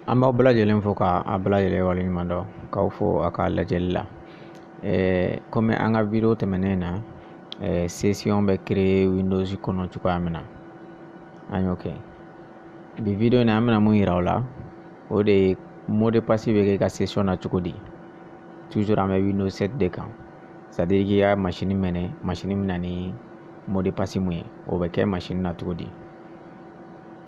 an b'aw bɛɛ lajɛlen fo ka a bɛɛ lajɛlen waleɲuman dɔn k'aw fo a ka lajɛli la kɔmi an ka video tɛmɛnen na session bɛ créer windows kɔnɔ cogoya min na an y'o kɛ bi video in na an bɛna mun yira aw la o de ye mot de passe bɛ kɛ i ka session na cogo di toujours an bɛ windows 7 de kan c'est à dire k'i ka masini mɛnɛ masini bɛ na ni mot de passe mun ye o bɛ kɛ masini na cogo di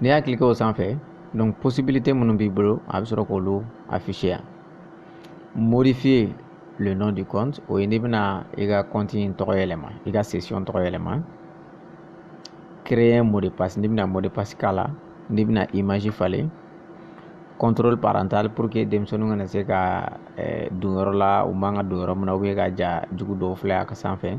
n'i y'a cliquer o sanfɛ donc possibilité minnu b'i bolo a bɛ sɔrɔ k'olu afficher yan modifier le nom du compte o ye n'i bɛna i ka compte in tɔgɔ yɛlɛma i ka session tɔgɔ yɛlɛma créer mot de passe n'i bɛna mot de passe k'a la n'i bɛna image falen contrôle parental pour que denmisɛnninw kana se ka eh, don yɔrɔ la u man ka don yɔrɔ min na ou bien ka ja jugu dɔw filɛ a ka sanfɛ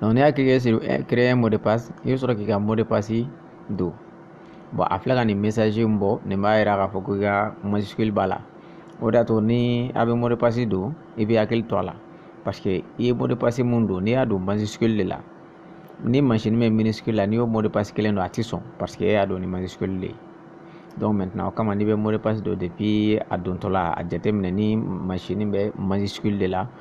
Donc n'i y'a kɛ eh, créer mot de passe i bɛ sɔrɔ k'i ka mot de passe don bon a filɛ ka nin message in bɔ nin b'a yira k'a fɔ ko i ka majuscule b'a la o de y'a to ni a bɛ mot de passe don i bɛ hakili to a la parce que i ye mot de passe mun don n'i y'a don majuscule de la ni masini bɛ minuscule la n'i y'o mot de passe kelen don a tɛ sɔn parce que e y'a don ni majuscule de ye donc maintenant o kama n'i bɛ mot de passe don depuis a dontɔla a jateminɛ ni masini bɛ majuscule de la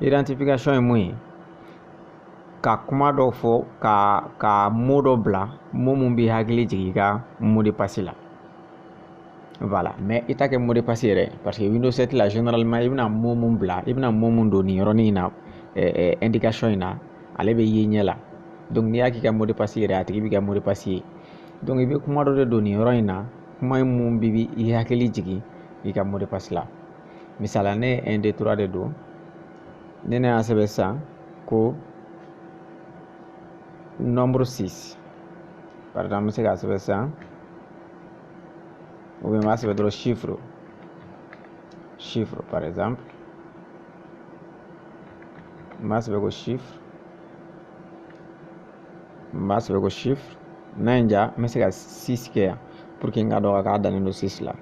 identification ye mun ye ka kuma dɔ fɔ ka ka mot dɔ bila mot mun b'i hakili jigin i ka mot de passe la voilà mais i t'a kɛ mot de passe yɛrɛ parce que windows 7 la généralement i bɛna mot mun bila i bɛna mot mun don nin yɔrɔnin in na eh, eh, indication in na ale bɛ ye ɲɛ la donc n'i y'a k'i ka mot de passe yɛrɛ a tigi b'i ka mot de passe ye donc i bɛ kuma dɔ de don nin yɔrɔ in na kuma in mun b'i hakili jigin i ka mot de passe la misala ne ye un deux trois de don ne ne y'a sɛbɛn sisan ko nombre six par exemple n bɛ se k'a sɛbɛn sisan ou bien n b'a sɛbɛn dɔrɔn chiffre chiffre par exemple n b'a sɛbɛn ko chiffre n b'a sɛbɛn ko chiffre n'a ye n diya n bɛ se ka six kɛ yan pour que n ka dɔn k'a dannen don six la.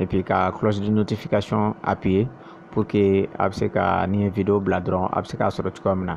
et puis ka cloche de notification appuyer pour que a bɛ se ka ni n ye video bila dɔrɔn a bɛ se k'a sɔrɔ cogoya min na